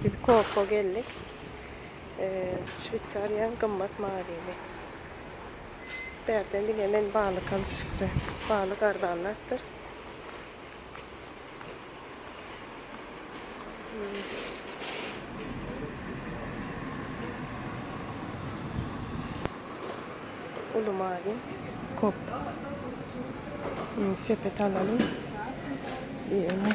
Biz Koko geldik. Şweýsariýaň gymmat maryny. Bärden diňe men balyk alyp çykjak. Balyk arzan zatdyr. Uly mary kop. Sepet alalım. Diýeni.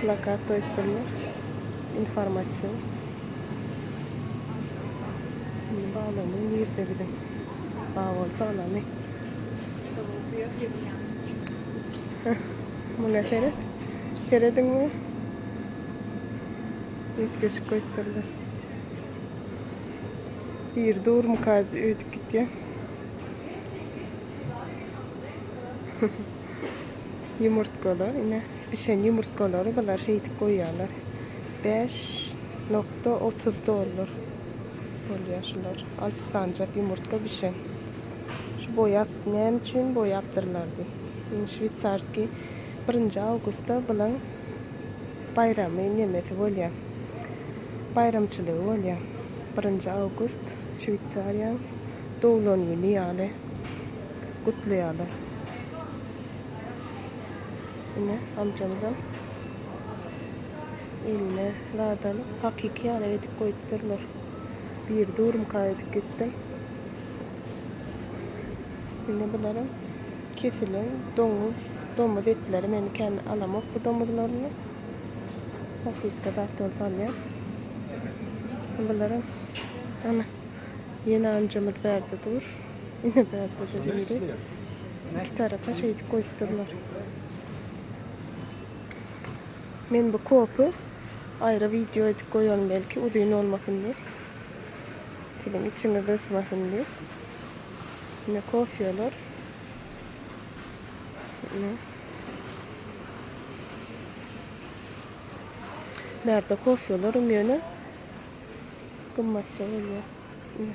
Plakat öýtdürler. Informasion. Indi baglanyň nirde gide? Ba bolsa anany. Muna seret. Serediň mi? Öýtgeşik öýtdürler. Bir dur mukaz öýtüp gitýär. Ýumurtgalar, ine, bişen ýumurtgalary bular şeýdip goýýarlar. 5.30 dollar bolýar şular. Alty sanjak ýumurtga bişen. Şu boýap, näme üçin boýapdyrlar diý. Indi şweýsarskiý 1-nji awgustda bulan baýramy nemesi bolýar. Baýramçylygy bolýar. 1-nji awgust Şweýsariýanyň doglan güni ýaly. gutlaýarlar. Ine, amjamyzam eline lada alyp, hakyky ýaly edip goýupdyrlar. Bir durumka edip gitdim. Indi bularam kesilen domuz, domuz etleri meni kän alamok bu domuzlaryny. Sosiska zat bol salýar. Bularam ana ýene amcamyz bärde dur. Ine bärde-de biri iki tarapa şeýdip goýup durlar. Men bu kopy aýra wideo edip goýaryn belki uzyn bolmasyn diýip. Siziň içiňiz ysmasyn diýip. Ine kofýalar. Ine. Bärde kofýalaram ýöne gymmatja bolýar. Ine.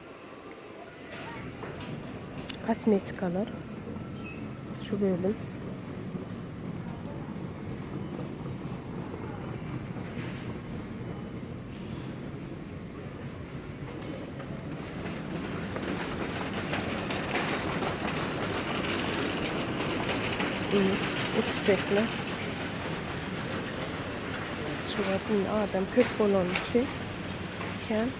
Kosmetikalar. Şu bölüm. Uçsekler. Şu gün adam köp bolan için. Kem.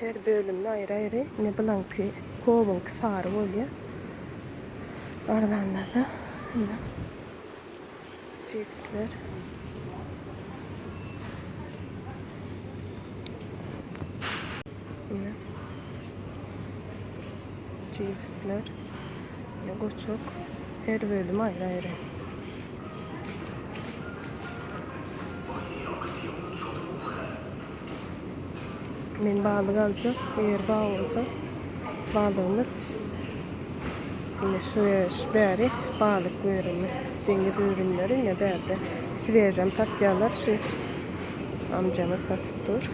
Her bölümde aýry-aýry. Ine bulaňky kowyňky sary bolýa. Arzandada ine cipsler. Ine. Cipsler. Ine goçuk. Her bölüm aýry-aýry. Men balyk aljak eger bar bolsa balygymyz ine şu bäri balyk görünme deňiz özümleri ine bärde svežem satýarlar şu amjamyz satyp dur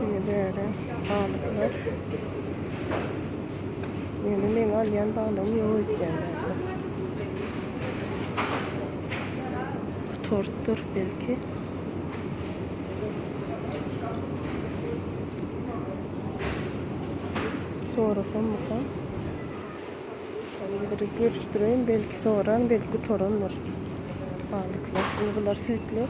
ine bäri balyklar ýöne meň alýan balygym ýok öýtýän bärde tortdur belki Sorasammyka? Şeýle görüşdireýin, belki soran, belki gutarandyr. Balyklar, indi bular süýtler.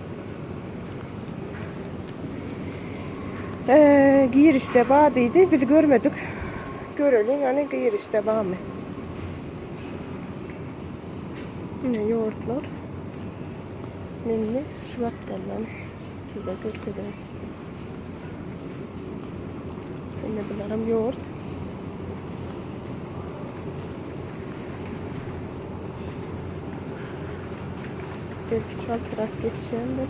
Ee, girişde ba diýdi, biz görmedik. Göreliň, ýani girişde bamy. Ine ýurtlar. Meni şu wagtdan size görkezerin. Indi bularym ýurt. Belki çaltyrak geçýändir.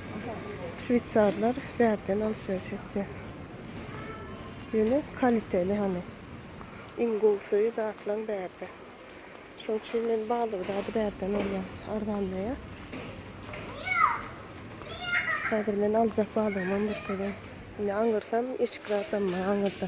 Şweýsarlar bärden alşyryş etýär. Ýöne kaliteli hany. Iň gowusy zatlaň bärde. Şoň üçin men balygy zady bärden alýan. Arzanlaýar. Häzir men aljak balygymam bir köre. Indi aňyrsam eşik zadam bar aňyrda.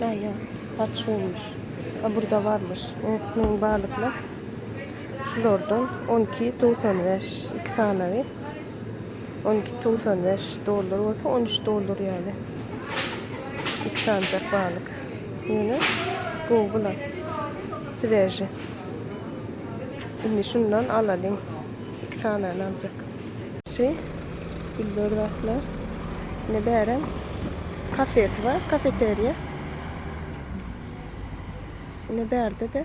Näýe? Saç ýuwmuş. A burda barmyş. Unutmaň balyklar. Şulardan 12.95 iki sanawy. 12.95 dollar bolsa 13 dollar ýaly. İki sanjak balyk. Ýöne gowy bular. Sveji. Indi şundan alalyň. Iki sanany aljak. Şi güller zatlar. Ine bärem kafesi bar, kafeteriýa. Ine bärde-de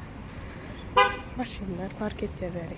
maşynlar park etýär bäri.